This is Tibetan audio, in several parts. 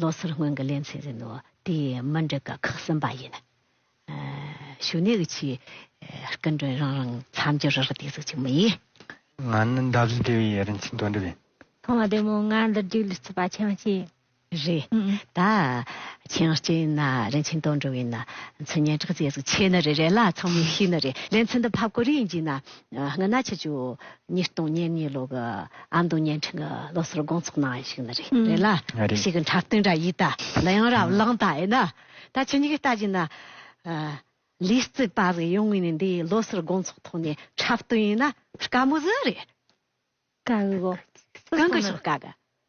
ལོ་སར་སྔོན་གྱི་ལན་ཚིག་ཟིན་ནོ། དེ་ཡི་མ་འགྲིག་ཀ་ཁག་གསུམ་པ་ཡིན། ཞུ་ནས་ཀྱི་ཆེ་སྐུ་མགྲོན་རང་རང་མཚམས་སྦྱོར་རག་བསྡད་ཟིག་ཅིག་མ་ཡིན། ང་ནི་འདབ་བཞི་སྡེ་བའི་རིན་ཆེན་དོན་འགྲུབ་ཡིན། ཐོག་མ་དེ་མོ་ང་འདི་སྒྲིག་ལུས་རྩིས་པ་ཆེན་མ་ཅི། རེད་ད། ཆེན་སྐྱེ་ཡིན་ན་རིན་ཆེན་དོན་འགྲུབ་ཡིན་ན་མཚན་སྙན་གྲགས་བརྩེ་ཟིག་ཆེ་ནི་རེད་རེད་ལ་ཚང་མས་ཤེས་ནི་རེད་ལན་ཚིག་འདི་ཕབ་ཀོ་རེ་ཡིན་གྱིས་ན་སྔ་ན་ཆི་ཅོ། ཉིས་སྟོང་ཉེར་གཉིས་ལོ་གི་ཨ་མདོ་བརྙན་འཕྲིན་གྱི་ལོ་སར་དགོང་ཚོགས་གནང་བ་ཞིག་ནི་རེད་རེད་ལ། རེད། ཞིག་གི་འཁྲབ་སྟོན་འདྲ་ཡིན་ད། ལ་ཡང་རབ་བླངས་ད་ཡིན་ན། ད་ཁྱེད་གཉིས་ཀྱིས་ལྟ་གྱིན་ན། ལིས་རྩིས་པ་རིགས་ཡོང་ངེས་ནི་འདི་ཡི་ལོ་སར་དགོང་ཚོགས་ཐོག་ནས་འཁྲབ་སྟོན་ཡིན་ན་དཀའ་མོ་ཟིག་རེད། དཀའ་གི། གང་གི་ཞོག་དཀའ་གི།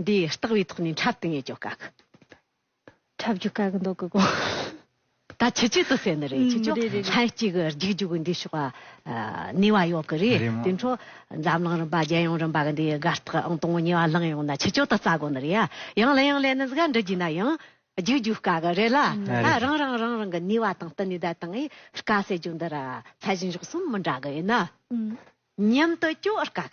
འདི་ལྟག་བའི་ཐོག་ནས་འཁྲབ་ཏུ་ངེས་ཀྱོ་ཀཀ། འཁྲབ་རྒྱུ་ཀཀ་འདོག་གི་གོ། ད་ཆུ་ཆུ་དུ་ཟེར་ནི་རེད་ཆུ་ཆུ་ལྷན་སྐྱེས་ཀྱི་རྒྱུག་རྒྱུག་གི་འདི་ཤོག་ནུས་བ་ཡོག་གི་རེད་དེ་འཕྲོ་འཛམ་གླིང་རིམ་པ་རྒྱལ་ཡོངས་རིམ་པ་གི་འདི་དགའ་རྟགས་ཨང་དང་བོ་ཉེས་བ་ལང་ཡོང་ན་ཆུ་ཆུ་དུ་རྩ་གོ་ནི་རེད་ཡ་ཡང་ལན་ཡང་ལན་ནི་ཟིག་འདྲི་རྒྱུ་ན་ཡང་རྒྱུག་རྒྱུག་ཀཀ་གི་རེད་ལ་ད་རང་རང་རང་རང་གི་ནུས་བ་དང་བསྟུན་ནས་ད་དང་ཨི་ཀཀ་ཟེར་རྒྱུ་འདི་ར་ཚད་གཞི་མགྱོགས་གསུམ་མི་འདྲ་གི་ཡིན་ན་མཉམ་དུ་སྐྱོ་ཨར་ཀཀ།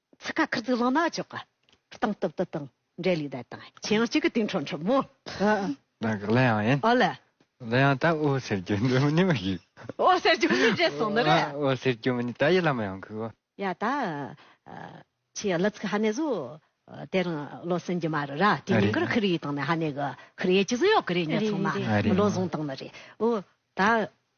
ཚིག་ཁ་ཁུར་ཚུགས་ལོང་ནག་ཅོག་གི། སྟངས་སྟབས་དུ་དང་འབྲེལ་ལུས་བསྡད་དང། ཁྱེད་ཡང་གཅིག་གི་དུས་འཕྲོ་འཁྲབ་མོ། ནང་གི་གླུ་དབྱངས་ཡིན། ཨོ་ལེ། གླུ་དབྱངས་ད་ཨོ་ཟེར་རྒྱུ་འདོད་མ་ནི་མ་ཞིག། ཨོ་ཟེར་རྒྱུ་མི་རེད་སོང་ནི་རེད། ཨོ་ཟེར་རྒྱུ་མ་ནི་ད་ཡི་ལ་མ་ཡང་གི། ཡ་ད། ཁྱེད་གླུ་ཚིག་ཧ་ནས་བཟོ། དེ་རིང་བློ་སེང་རྒྱུ་མ་རུ་ར་དེ་ཉིན་གུར་ཁུར་ཡིས་དང་ནས་ཧ་ནས་གི་ཁུར་ཡེ་ཅི་ཟི་ཡོག་གི་རེད་ཉེ་ཚང་མ། མི་བློ་བཟང་དང་ནི་རེད། ཨོ་ད།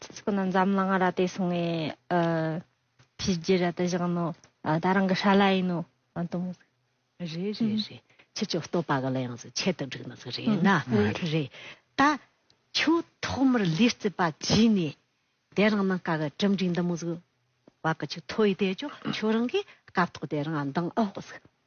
ཚིག་ཚོགས་ནི་འཛམ་གླིང་ར་ཏེ་སོང་ངས་ཕྱི་རྒྱལ་ར་ཏེ་བཞག་ནོ་ད་རང་གི་ཧྲ་ལ་ཡིན་ནོ་དུ་མོ། རེ་རེ་རེ་ཁྱེད་ཀྱི་བསྟོད་པ་ག་ལ་ཡང་ཟིག་ཁྱད་དུ་བསྒྲིགས་ནི་ཟིག་རེད་ན་རེ། ད་ཁྱོད་ཐོག་མར་ལུས་རྩིས་པ་གྱིས་ནས་དེ་རང་ནང་ཀ་གི་གྲུབ་འབྲིང་དུ་མོ་ཟིག་བ་གི་ཆུ་ཐོ་ཡི་དེ་ཅོ་ཁྱོད་རང་གིས་སྐབས་ཐོག་དེ་རང་འདང་ཨོ་ཟིག།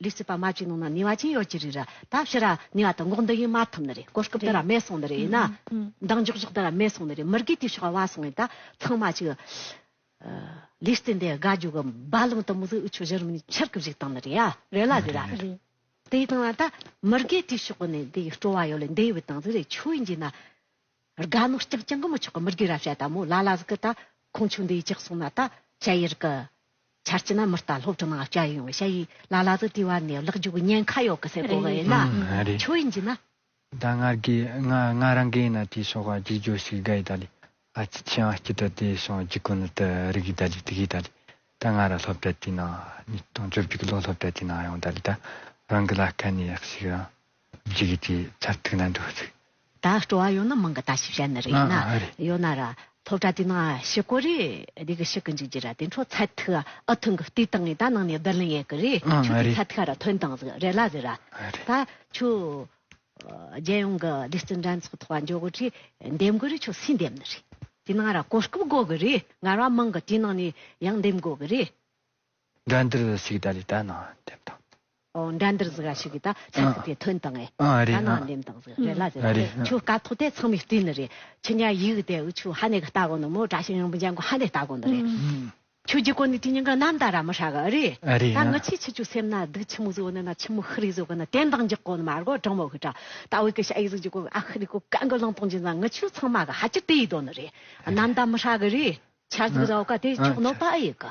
ལུས་སྲིད་པ་མ་ཅིག་ནང་ན་ནི་བ་ཅན་ཡོད་ཀྱི་རེད་ར་ད་ཕྱི་ར་ནི་བ་དང་འགོག་འདི་ཡིན་མ་ཐུབ་ནི་རེད་གོ་སྐབས་འདི་ར་མེད་སོང་ནི་རེད་ན་འདང་འཇོག་འཇོག་འདི་ར་མེད་སོང་ནི་རེད་མི་དགོས་དུས་ཤོག་བ་སོང་ཡིན་ད་ཚང་མ་ཅིག་ལུས་སྲིད་འདི་དགའ་རྒྱུ་གི་རྦ་གླང་དུ་མི་གཟིགས་འུ་ཆོས་གཞི་རིམ་ནི་ཕྱིར་གི་བཞུགས་སྟངས་ནི་རེད་ཡ་རེད་ལ་རེད་ར་དེ་ཡི་སྟངས་ན་ད་མི་དགོས་དུས་ཤོག་གི་ནི་འདི་ཡི་སྤྲོ་བ་ཡོད་ལ་འདི་ཡི་བའི་སྟངས་ཟིག་རེད་ཆོས་ཡིན་གྱི་ན། རྒ་ནོ་སྐྱག་ཅན་གི་མི་ཆོག་གི་མི་རྒས་ར་བྱ་ད་མོ་ལ་ལ་ཟིག་གི་ད་ཁོང་ཆུ་འདི་ཡི་ཅག་སོང་ན་ད་བྱ་ཡི་རི་གི་ཆར་སྐྱི་ན་མི་རྟ་ལྷོ་བྲི་ནང་སྐྱ་ཡོང་བྱ་ཡི་ལ་ལ་ཟིག་དུས་བ་ནས་ལག་རྒྱུག་ཉན་ཁ་ཡོག་གི་སེ་གོ་གི་ཡི་ན་ཆོ་ཡི་འཇི་ན། ད་ང་རྒས་ང་ང་རང་གི་ཡི་ན་དེ་སོག་ག་རྒྱུག་རྒྱོ་ཟིག་རྒ་ཡི་ད་ལི་ཨ་ཅི་ཆི་ཨང་སྐྱི་ད་དེ་སོང་རྒྱུག་གི་ནི་ད་རི་གི་ད་ལི་དི་གི་ད་ལི་ད་ང་ར་ལྷོ་བྲ་དེ་ནང་ཉིས་སྟོང་བཅོ་བརྒྱུག་ལོ་ལྷོ་བྲ་དེ་ནང་ཡོང་ད་ལི་ད་རང་གི་ལ་སྐ་ནི་ཡག་ཟིག་རང། ཇི་གི་དེ་ཚར་ཐིག་ན་འདུག་ཚིག། ད་སྤྲོ་བ་ཡོད་ན་མང་གི་ད་ཞིབ་བྱ་ནི་རེད་ན་ཡོད་ན་ར་ཐོབ་གྲ་དེ་ན་ཞི་གོ་རེ་རེ་གི་ཞི་གི་འཇུག་རྒྱུ་ར་དེ་འཕྲོ་ཚར་ཐིག་ཨ་ཐུང་གི་ལྟོས་དང་ངས་ད་ནང་ནས་བསྡུར་ལེན་ཡས་གི་རེ་ཆུ་དེ་ཚར་ཐིག་ཨ་ར་ཐོན་དང་ཟིག་རེ་ལ་ཟིག་ར་ད་ཆུ་རྒྱལ་ཡོངས་གི་སྡེ་བརྩི་འགྲན་ཚོགས་ཐོག་ཨ་འཇོག་གི་རེ་འདེམས་གི་རེ་ཆུ་སུས་འདེམས་ནི་རེ་དེ་ན་ར་གོ་སྐབས་དགོ་གི་རེ་ངར་བ་མང་གི་དེ་ནང་ནས་ཡང་འདེམས་དགོ་གི་རེ། འདྲ་འདིར་ཟིག་ད་ལི་ད་ནང་འདེམས་དང། འདྲ་འདིར་ཟིག་ར་ཤི་གི་ད་ཚད་ཚིག་དེ་ཐོན་དང་ཨེ། ཨ་རེད་ད་ནང་འདེམས་དང་ཟིག་རེད་ལ་ཟེར་ཨ་རེད། ཆུ་དཀའ་ཐོག་དེ་ཚང་མའི་རྟེན་ནི་རེད། ཆུ་ཉག་ཡིག་གི་དེ་འུ་ཆུ་ཧ་ནེ་གི་ལྟ་གོ་ནི་མོ་དྲ་ཤིང་རིང་པོ་འཇམ་གོ་ཧ་ནེ་ལྟ་གོ་ནི་རེད། ཆུ་རྒྱུ་གོ་ནི་དྲི་སྙིང་གི་གནམ་ལྟ་ར་མི་ཧྲ་གི་ཨ་རེད། ཨ་རེད་ད་ང་ཡང། ཆི་ཆི་ཆུ་སེམས་ན་སྡུག་ཆི་མུག་བཟོ་ནི་ན་ཆི་མུག་ཧི་རི་བཟོ་གི་ནི་རྟེན་དང་འཇིག་གོ་ནི་མ་རྒོ་གྲང་མོ་ཧི་ཀྲ། ད་འུ་གི་ཤ་ཡིག་ཟིག་རྒྱུ་གོ་ཨ་ཧི་རི་གོ་གན་གི་ལང་སྟོང་ཅིག་ན་ང་ཆུ་ཚང་མ་གི་ཧ་ཅི་ཏི་ཡིག་དོ་ནི་རེད། གནམ་ལྟ་མི་ཧྲ་གི་རེད། ཆར་ཟིག་ར་འུ་ཀ་དེ་ཆོག་ནོ་པ་ཨེ་ཡིག་གི།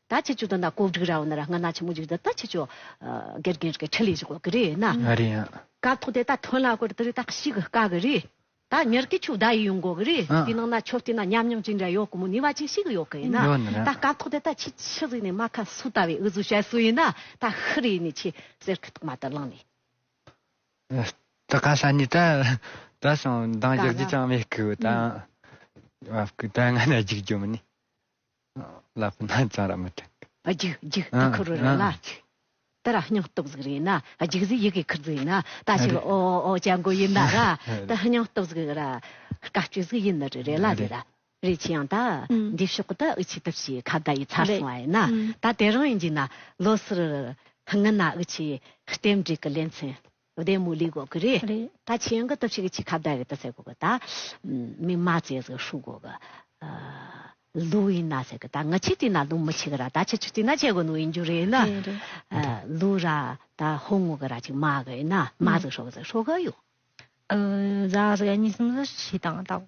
ད་ཆེ་ཆུ་དང་ད་ཀོག་འགྲིག་ར་བ་ན་ར་སྔ་ན་ཆེ་མོ་འཇིག་ད་ད་ཆེ་ཆུ། གེར་གེར་གེར་ཁྲི་ལི་ཞིག་ཀོག་གི་རེད་ན། ང་རེད་ཡ། ཀ་ཐོག་དེ་ད་ཐོན་ལ་ཀོར་དེ་རི་ད་ཤིག་གི་ཀ་གི་རེད། ད་ཉེར་གི་ཆུ་ད་ཡི་ཡོང་གོག་གི་རེད་དེ་ནང་ན་ཆོ་སྟེ་ན་ཉམས་མྱོང་ཅིག་འདྲ་ཡོག་གི་མོ་ནི་བ་ཅིག་ཤིག་ཡོག་གི་ཡིན་ན། ཡོག་ནི་ར། ད་ཀ་ཐོག་དེ་ད་ཆི་ཆི་རི་ནི་མ་ཁ་སུ་ད་བའི་འུ་ཟུ་ཤ་སུ་ཡིན་ན་ད་ཧི་རི་ནི་ཆི་སེར་ཁི་ཐོག་མ་ད་ལང་ནི། ད་ཀ་ཤ་ནི་ད་ད་ཤང་མདང་བཞག་རྒྱུ་ཅང་མེད་ཀི་ད། བ་ཀི་ད་སྔ་ན་འཇིག་རྒྱུ་མི་ནི། བླ་སྤུ་སྣ་ཚང་ར་མི་ཐུག། རྒྱུག་རྒྱུག་ད་ཁུ་རུ་ར་ལ་རྒྱུག། དེ་ར་སྙིང་སྟོབས་གཟུགས་རེད་ན་རྒྱུག་གཟུགས་ཡི་གེ་ཁུར་རྫུག་ཡིན་ན་ད་ཕྱི་ལོ་ཨོ་ཨོ་ཨོ་ཅལ་མགོ་ཡིན་ན་ར་དེ་སྙིང་སྟོབས་གཟུགས་ར་དཀའ་སྤྱོད་གཟུགས་ཡིན་ན་རེ་རེ་ལ་རེ་ར་རེ་ཆི་ཡང་ད་འདི་ཕྱོགས་གི་ད་འུ་ཆི་ད་ཕྱིའི་ཁ་བརྡ་ཡི་ཚར་སོང་བ་ཡིན་ན་ད་དེ་རང་ཡིན་གྱི་ན་ལོ་སི་རུ་ར་ངི་ན་འུ་ཆི་ལྟེབ་འབྲེལ་གི་ལེ་ཚན་བུ་དེ་མུ་ལི་གོ་གི་རེད། ད་ཆེན་གི་སྟོབས་ཤིག་ཆི་ཁ་བདའ་རེད་ད་ཟེར་གོ་གི་ད། མི་མ་ཙེ་ཟེར་ཤུག་གོ་གི། ལུག་ཡིན་ན་ཟེར་གི་ད་ང་ཆི་ཏི་ན་ལུག་མི་ཆི་གི་ར་ད་ཆི་ཆུ་ཏི་ན་ཆེ་གོ་ནུ་ཡིན་རྒྱུ་རེད་ན། ལུག་ར་ད་ཧོ་ངོ་གི་ར་ཅིག་མ་གི་ཡིན་ན་མ་ཟེར་ཤོག་གི་ཟེར་ཤོག་གི་ཡོད། ར་ཟེར་ག་ཉིས་སམ་ཟེར་བཞི་དང་ད།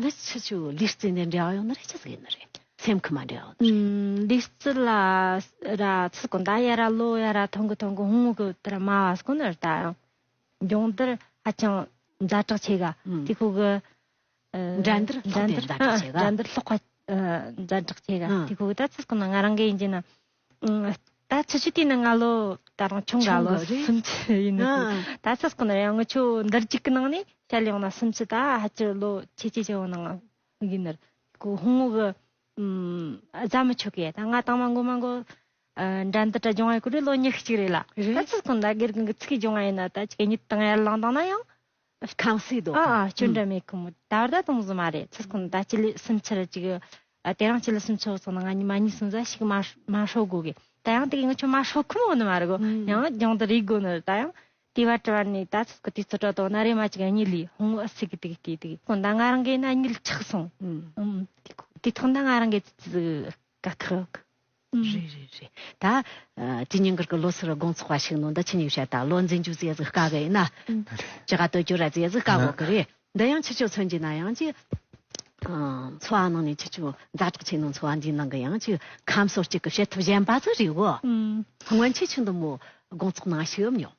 འདི་ཕྱི་ཆུ་ལུས་རྩི་ནས་འབྲེལ་བ་ཡོང་ན་རེད་ཅེས་ཟེར་གྱི་ཡོད་རེད་སེམས་ཁུར་མ་འབྲེལ་བ་རེད། ལུས་རྩི་ལ་ར་ཚི་གོ་མདའ་ཡ་ར་གློ་ཡ་ར་ཐོང་གི་ཐོང་གི་ཧུང་གི་དེ་ར་སྨྲ་བ་སོགས་ནི་ར་ད་ཡང་སྦྱོང་བརྡར་ཧ་ཅང་ཛ་དྲག་ཆེ་ག་དེ་ཁོ་གི་འགྲན་བསྡུར་ལྷག་དེ་ཛ་དྲག་ཆེ་ག་འགྲན་བསྡུར་ལྷག་པ་ཛ་དྲག་ཆེ་ག་དེ་ཁོ་གི་ད་ཚི་གོ་ན་ང་རང་གི་ཡིན་གྱི་ན། ད་ཆུ་ཆུ་དེ་ནི་སྔ་ལོ་ད་རང་ཆུང་ག་ལོ་སུམ་ཅུ་ཡིན་ནི་ད་ཚ་ཟེར་ན་ཡང་ངི་ཆུ་འདིར་རྒྱུག་གི་ནང་ནས་ཤར་ཡོང་ན་སུམ་ཅུ་ད་ཧ་ཅུ་ལོ་ཆེ་ཆེ་ཆེ་བ་ནང་ཡིན་ནི་གོ་ཧུང་ངུ་གི་རྫ་མི་ཆུ་གི་ད་ང་ད་མ་འགོ་མ་འགོ་འདྲ་འདི་དྲ་འབྱུང་བ་ཡི་གོ་རེ་ལོ་ཉི་ཤུ་གཅིག་རེ་ལ་ད་ཚུར་ཁོ་ན་སྒེར་གི་ཚུགས་ཀྱི་འབྱུང་བ་ཡིན་ན་ད་ཆུ་ག་ཉི་དང་ཡར་ལངས་དང་ན་ཡང་ཁང་སའི་རྡོ་ཁང། ཁྱོད་འདྲ་མེད་གི་མོད། ད་བར་ད་དུང་བཟོ་མ་རེད། ཚུར་ཁོ་ན་ད་སྤྱི་ལོའི་སུམ་ཆར་ཅིག་དེ་རང་སྤྱི་ལོ་སུམ་ཆུ་སོང་ན་ང་གཉིས་མ་གཉིས་སུམ་ཟ་ཞིག་མ་ཧྲོག་དགོ་གི། ད་ཡང་དེ་གི་ང་ཁྱོད་མ་ཧྲོག་ཁུ་མོ་ནི་མ་རེད་གོ། ཡང་རྒྱང་དུ་རིག་དགོ་ནི་རེད་ད་ཡང། དེ་བ་དྲི་བ་ནི་ད་ཚུར་ཁུ་དེ་ཚོ་དྲ་དོ་ན་རེ་མ་ཅིག་ཨ་ཉི་ལིས་ཧོང་ཨ་སི་གི་དེ་གི་དེ་དེ་གི། ཁོ་ན་ང་རང་གི་ཨ་ཉི་ལིས་ཆག་སོང། དེ་ཐོག་ན་ང་རང་གི་ཙི་ཙི་ཟིག། དྲ་ཐག། རེད་རེད་རེད། ད་ཇི་སྙིང་གར་གི་ལོ་སར་དགོང་ཚོགས་པ་ཞིག་ནང་འདི་ཕྱི་གཉིས་བཤད་དང་ལོ་འཛིན་རྒྱུ་ཟས་ཟིག་དཀའ་གི་ཡིན་ན། ཇི་ག་བསྟོད་རྒྱུ་ར་ཟས་ཟིག་དཀའ་གོ་གི་རེད། འདི་ཡང་ཕྱི་ཕྱོགས་ཚོན་གྱི་ན་ཡང་ཅིག། འཚོ་བ་ནང་ནས་ཕྱི་ཕྱོགས་མཛའ་གྲགས་ཆེ་ནང་འཚོ་བ་འདིའི་ནང་གི་ཡང་ཅིག་ཁམས་སོ་གཅིག་གི་བྱེད་ཐབས་གཞན་པ་ཟིག་རེད་གོ། སྔོན་ཆད་ཆུ་འདི་མོ་དགོང་ཚོགས་ནང་ཞིག་ཡོད་མྱོང།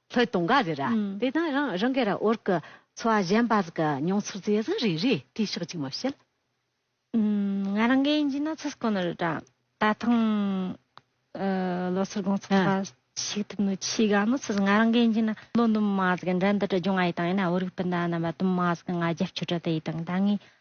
ལྷོད་གཏོང་ག་རེ་ར། དེ་དང་རང་རང་གི་ར་འོར་གི་འཚོ་བ་གཞན་པ་ལ་གི་མྱོང་ཚོར་རྩེ་གཟུང་རེ་རེ་དྲིས་ཤོག་ཅིག་མ་བཤད། ང་རང་གི་ཡིན་གྱི་ན་ཚོད་སྐོ་ན་རེ་དྲ། ད་ཐང་ལོ་སར་དགོང་ཚོགས་པ་ཞིག་ཐུབ་ནུ་ཆི་ག་ནོ་ཚོད་ང་རང་གི་ཡིན་གྱི་ན། ལོ་འདུམ་མ་ཟ་གི་འདྲ་འདི་དྲ་འབྱུང་ཨ་ཡི་དང་ཡིན་ན་འོ་རིག་པི་འདའ་ན་བ་འདུམ་མ་ཟ་གི་ང་རྒྱབ་ཆོད་དྲ་དེ་ཡི་དང་ད་ངའི་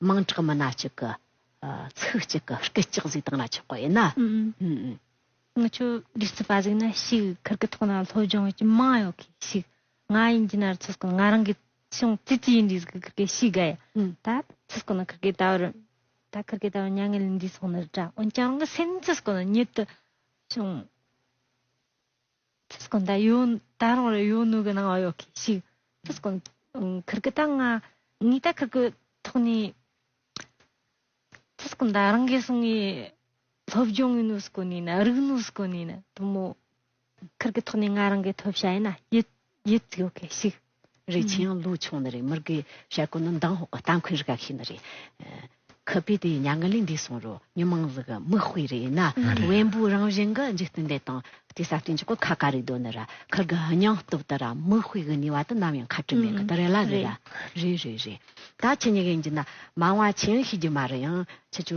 དམངས་ཁྲག་མི་སྣ་གཅིག་གི་ཚིག་གཅིག་གི་སྐད་ཅིག་གཟིགས་སྟངས་ལ་ཆགས་པ་ཡིན་ན། ང་ཆོས་ལུགས་ཚོད་པ་ཟིག་ན་ཞིག་ཁུར་གི་ཐོག་ན་སློབ་སྦྱོང་ཡོད་ཀྱི་མང་ཡོད་གི་ཞིག་ང་ཡིན་གྱི་ནར་ཚོད་སྐོར་ང་རང་གི་ཆུང་ཙི་ཙི་ཡིན་དུས་ཟིག་ཁུར་གི་ཞིག་དགའ་ཡ་ད་ཚོད་སྐོར་ན་ཁུར་གི་ད་བར་ད་ཁུར་གི་ད་བར་མྱ་ངན་ལས་འདས་སོང་ནི་འདྲ་འོན་ཀྱང་རང་གི་སེམས་ཚོད་སྐོར་ན་ཉིད་དུ་ཆུང། ཕུ་སྐོན་ད་ཡོད་ད་རུང་རེད་ཡོད་ནུས་གི་ནང་བ་ཡོད་གི་ཤིག་ཕུ་སྐོན་ཁིར་གི་ད་ང་ངའི་ད་ཁིར་གི་ཐོག་ནས་ཕུ་སྐོན་ད་རང་གི་སོང་གི་སློབ་སྦྱོང་གི་ནུས་སྐོན་ནས་ན་རིག་ནུས་སྐོན་ནས་ན་དུ་མོ་ཁིར་གི་ཐོག་ནས་ང་རང་གི་ཐོབ་བྱ་ཡིན་ན་ཡིད། ཡིད་སྐྱོ་གེ་ཞིག་རེད་ཆེ་ཡང་ལོ་ཆུང་ནི་རེད་མི་རིགས་ཀྱི་བྱ་གོ་ནི་མདང་ཧོག་གི་རྟ་མཁོན་རི་ག་ཞིག་ནི་རེད། ཁུ་བུས་དེ་མྱ་ངན་ལས་འདས་སོང་རུ་མྱི་མང་ལུག་གི་མིག་དཔེ་རེད་ན་བེམ་པོའི་རང་བཞིན་གི་འཇིག་རྟེན་འདི་དང་དེ་ས་སྟེང་གི་གོ་ཁ་ག་རེ་དོ་ནི་ར་ཁུལ་གྱི་སྙིང་སྟོབས་དེ་ར་མིག་དཔེ་གི་ནུས་བ་དེ་ནམ་ཡང་ཁ་བྲུ་མེད་གི་དེ་རེད་ལ་རེད་རེད་རེད་རེད་ད་ཁྱི་ཉི་ག་ཡིན་གྱི་ན་མང་བ་ཆེ་ཡང་ཤི་རྒྱུ་མ་རེད་ཡང་ཁྱི་ཆུ་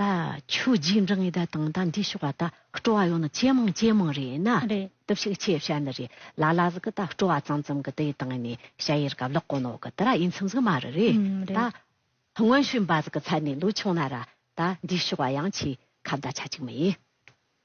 ད་ཁྱོད་རྗེས་འབྲང་ཡི་ད་དང་ད་འདྲིས་ཤོག་ཨ་ད་སྤྲོ་བ་ཡོང་ན་ཇེ་མང་ཇེ་མང་རེད་ན་རེད་ཞིག་ཁྱེད་བཤད་འདི་རེད་ལ་ལ་ཟིག་གི་ད་སྤྲོ་བ་ཙམ་ཙམ་གི་དེ་ཡི་དང་ནི་བཤད་ཡི་ར་ག་ལོག་གོ་ནོ་གི་དེ་ར་ཡིན་ཚུམ་ཟིག་མ་རེད་རེད་ད་དངོས་ཤུ་འབའ་ཟིག་གི་ཚད་ནི་ལུག་ཆུང་ན་ར་ད་འདྲིས་ཤོག་ཨ་ཡང་ཁྱེད་ཁ་བརྡ་ཆ་གཅིག་མ་ཡིན།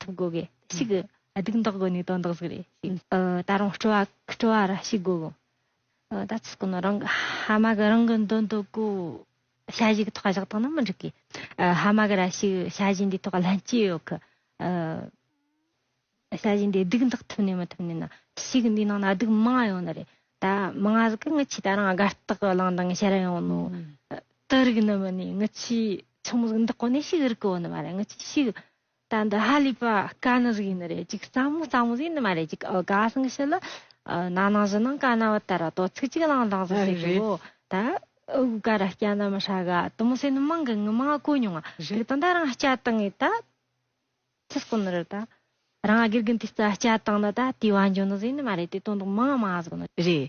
ཐུབ་དགོས་གི་ཞིག་གི་སྡུག་མདག་དགོས་ནས་དོན་དག་ཟིག་རེད་ཞིག་ད་རུང་སྤྲོ་བ་སྤྲོ་བ་ར་ཞིག་དགོས་གི་ད་ཚུགས་ཀྱི་ནོ་རང་ཧ་མ་གི་རང་གི་འདོན་དོ་གོ་བྱ་བཞི་གི་ཐོག་བཞག་ཐོག་ན་མི་འགྲིག་གི་ཧ་མ་གི་ར་ཞིག་བྱ་བཞི་འདི་ཐོག་ལྷན་སྐྱེས་ཡོད་གི་བྱ་བཞི་འདི་སྡུག་མདག་ཐུབ་ནས་མི་ཐུབ་ནས་ན་ཞིག་འདི་ནང་ན་སྡུག་མང་ཡོད་ནི་རེད་ད་མང་ང་ཟིག་གི་ངི་ཆི་ད་རང་དགའ་རྟག་གི་ལང་དང་ཤར་ཡོང་ནོ་དུ་རིག་ནི་མི་ནི་ངི་ཆི་ཆུང་མོ་ཟིག་འདི་ཀོ་ནས་ཞིག་རིག་གི་ཡོད་ནི་མ་རེད་ངི་ཆི་ཞིག་ད་འདི་ཧ་ལས་པ་དཀའ་ནི་རིགས་ཡིན་ནི་རེད་ཅིག་རྩ་མོ་རྩ་མོ་ཟེར་ནི་མ་རེད་ཅིག་ཨོ་དགའ་སང་ཤི་ལི། ན་ནང་བཞི་ནང་དཀའ་ན་བ་ད་ར་དོ་ཚིག་ཅིག་བླང་བླང་ཟེར་ཟེར་གི་བོ། ད་ཨོ་གུ་ག་ར་སྐྱ་ན་མི་ཧྲ་ག་དུ་མོ་ཟེར་ནི་མང་གི་ངི་མང་གོ་མྱོང་ང། རིགས་དང་ད་རང་སྐྱ་དང་ངི་ད། ཚིག་སྐོར་ནི་རེད་ད། རང་དགེ་རྒན་དེ་རྩ་སྐྱ་དང་ན་ད་དེ་བ་འཇོན་ནི་ཟེར་ནི་མ་རེད་དེ་དོན་དུ་མང་མང་ཟེར་གི་ནི་རེད།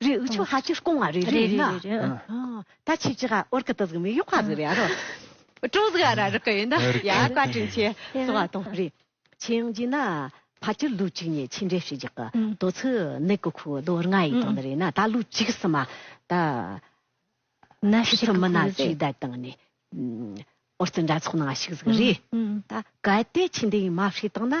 རེ་འུ་ཆོ་ཧ་ཅི་ཧྲ་ཀོང་ང་རེ་རེ་ཡིན་ན། ད་ཆི་ཅི་ཧ་ཨོར་ཀི་ཏི་ཟིག་མི་ཡོ་ཀ་ཟི་རེ་ཨ་རོ། ཀྲོ་ཟི་ཨ་ར་རི་ཀི་ཡིན་ན་ཡ་ཨ་ཀ་ཀྲིན་ཆེ་སི་བ་ཏོང་རེ། ཆེ་ཡང་ཅི་ན་ཕ་ཅི་ལུ་ཅིག་ཉེ་ཆི་འདྲེ་ཧྲི་ཇག་གི་ཏོ་ཚི་ནི་ཀི་ཁུ་ལོ་རྔ་ཡི་ཏོ་ནི་རེ་ན་ད་ལུ་ཅིག་སི་མ་ད། ན་ཤི་ཚི་མི་ན་ཟི་ད་ཏང་ནི་ཨོར་ཏི་འདྲ་ཚོགས་ནང་ཤིག་ཟི་རེ། ད་ག་ཏེ་ཆི་འདི་ཡིན་མ་ཧྲི་ཏང་ན།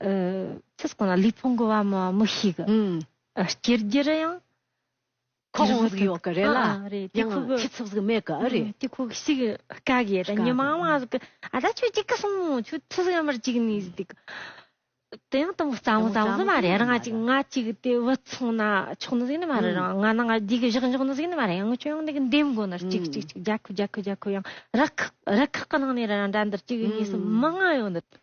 ཚེ་གང་ལ་ལུས་ཕུང་གི་བ་མོ་བ་མོ་ཞིག་སྐྱེ་རྒྱུར་ཡང། ཁོག་དབང་ཟིག་ཡོད་གི་རེད་ལ་ཡང་ཁྱི་ཚུགས་ཟིག་མེད་གི་ཨེ་རེད། དེ་ཁོག་ཞིག་དཀའ་གི་ཡོད་ད་ཉི་མ་མ་ཟིག་གི་ཨ་ད་ཁྱོད་ཅིག་གི་སོང་ངོ་ཁྱོད་ཚུགས་ཡོད་མར་ཅིག་ནས་ཟིག་གི། དེ་ཡང་དང་པོ་རྩ་མོ་རྩ་མོ་ཟིག་མ་རེད་རང་ཅིག་ང་ཅིག་དེ་བུ་ཚང་ན་ཆོག་ནི་ཟིག་ནི་མ་རེད་རང་ང་ན་ང་རྒྱུས་གི་བཞག་འཇོག་ནི་ཟིག་ནི་མ་རེད་ཡང་ཁྱོད་ཡང་འདི་གི་འདེམས་དགོ་ནར་ཅིག་ཅིག་ཅིག་རྒྱ་ཁུ་རྒྱ་ཁུ་རྒྱ་ཁུ་ཡང་རི་ཁག་རི་ཁག་གི་ནང་ནས་རང་འདྲ་འདིར་ཅིག་གི་ངེས་སུ་མི་མངའ་ཡོད་འདི།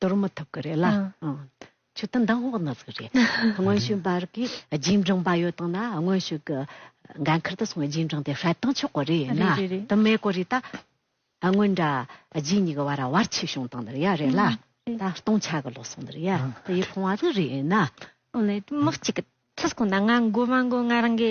འདོར་མི་ཐུབ་ཀི་རེད་ལ། ཆུ་དང་མདང་དབོག་ནགས་ཀི་རེད། དངོས་བཤུས་འབར་གི་རྗེས་འབྲང་པ་ཡོད་དང་ན་དངོས་བཤུས་ཀི་འགན་ཁུར་དུ་སོང་བའི་རྗེས་འབྲང་དེ་ཧྲལ་དང་ཆོག་གི་རེད་ན། དུ་མའི་གོ་རེད་ད། དངོས་འདྲ་རྗེས་གཉིས་ཀི་བར་ར་བར་ཆིག་བྱུང་དང་ནི་རེད་ཡ་རེད་ལ། ད་སྟོང་ཆ་གི་ལོ་སོང་ནི་རེད་ཡ་དེ་ཡི་ཕོང་བ་དི་རེད་ན། དངོས་ནི་དུ་མ་གཅིག་གི་ཚུལ་ཁོ་ན་ང་འགོ་མ་འགོ་ང་རང་གི།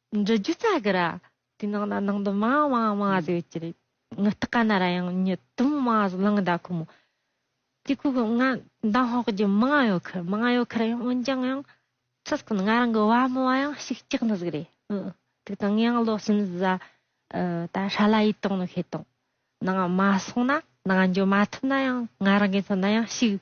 འབྲི་རྒྱུ་རྩ་དགུ་ར། དེའི་ནང་ན་ནང་དུ་མ་མ་མ་ཟེར་བའི་ཅི་རེད། ངུ་སྟག་ག་ན་ར་ཡང་ཉི་དུམ་མ་ཟེར་གླང་ཟླ་ཁོ་མོ། དེ་ཁོ་གི་ང་མདང་ཧོག་རྒྱུ་མ་ང་ཡོད་ཁར་མ་ང་ཡོད་ཁར་ཡང་འོན་ཀྱང་ཡང། ཚུར་ཁོ་ན་ང་རང་གི་བ་མོ་བ་ཡང་ཞིག་སྐྱག་ནི་ཟིག་རེད། དུག་དང་ངས་ཡང་ལོ་གསུམ་བཟའ། ད་ཧྲ་ལ་ཡིད་གཏོང་ནི་ཤེས་དང། ནང་མ་སོང་ན་ནང་འགྱོ་མ་ཐུབ་ན་ཡང་ང་རང་གི་མཚོན་ན་ཡང་ཞིག།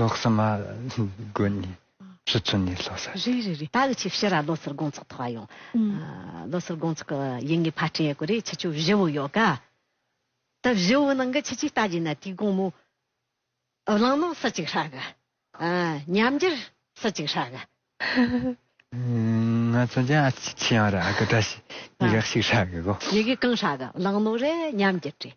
ལོག་ས་མ། དགོན་ནི། ཕྱི་ཚུལ་ནི་ལྷོ་ས་སྟེ། རེད་རེད་རེད་ད་གི་ཆི་བྱི་ར་ལོ་སར་དགོང་ཚོགས་ཐོག་ཡོང། ལོ་སར་དགོང་ཚོགས་ཀྱི་ཡིན་ངེས་ཕར་དྲན་ཡོད་གི་རེད་ཆི་ཆུ་བཞི་བོ་ཡོད་ག། ད་བཞི་བོ་ནང་གི་ཆི་ཆི་ལྟ་གྱིན་ན་དུས་དགོང་མོ། བླངས་ནང་ས་གཅིག་ཧྲག་གི། ཉམས་འགྱུར་ས་གཅིག་ཧྲག་གི། ང་ཚོ་ཀྱང་ཨ་ཆི་ཆི་ཡང་རག་གི་ད་ཤི་ཡི་ག་ཤིག་ཧྲག་གི་གོ། ཡི་གི་གང་ཧྲག་གི་བླངས་ནང་རེད་ཉམས་འགྱུར་རེད།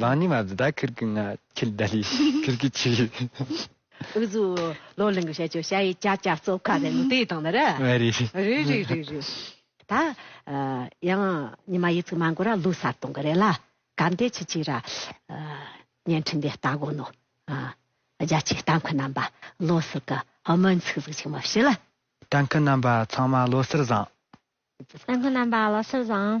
ལང་ཉི་མ་བཟི་ད་ཁིར་གི་ང་ཁྱིལ་ད་ལི་ཁིར་གི་ཁྱིལ། འུ་ཟུ། ལོ་གླིང་གི་བཤད་སྤྱོད་བྱ་ཡི་ཅག་ཅག་རྩོབ་ཁ་ཟེར་ནི་དེ་དང་ནི་རེད། རེད་རེད། རེད་རེད་རེད་རེད། ད། ཡང་ཉི་མ་ཡིད་ཚིག་མ་འགོར་ར་ལུས་གསར་གཏོང་གི་རེད་ལ། ག་འདི་ཆི་ཆི་ར། བརྙན་འཕྲིན་འདི་ལྟ་དགོ་ནོ། རྒྱ་ཆེའི་ལྟ་མཁན་རྣམ་པ་བློ་གསལ་གི་སྨོན་ཚིག་གཟིགས་ཅིག་མ་བྱེད་ལ། ལྟ་མཁན་རྣམ་པ་ཚང་མ་བློ་གསལ་བཟང། ལྟ་མཁན་རྣམ་པ་བློ་གསལ་བཟང།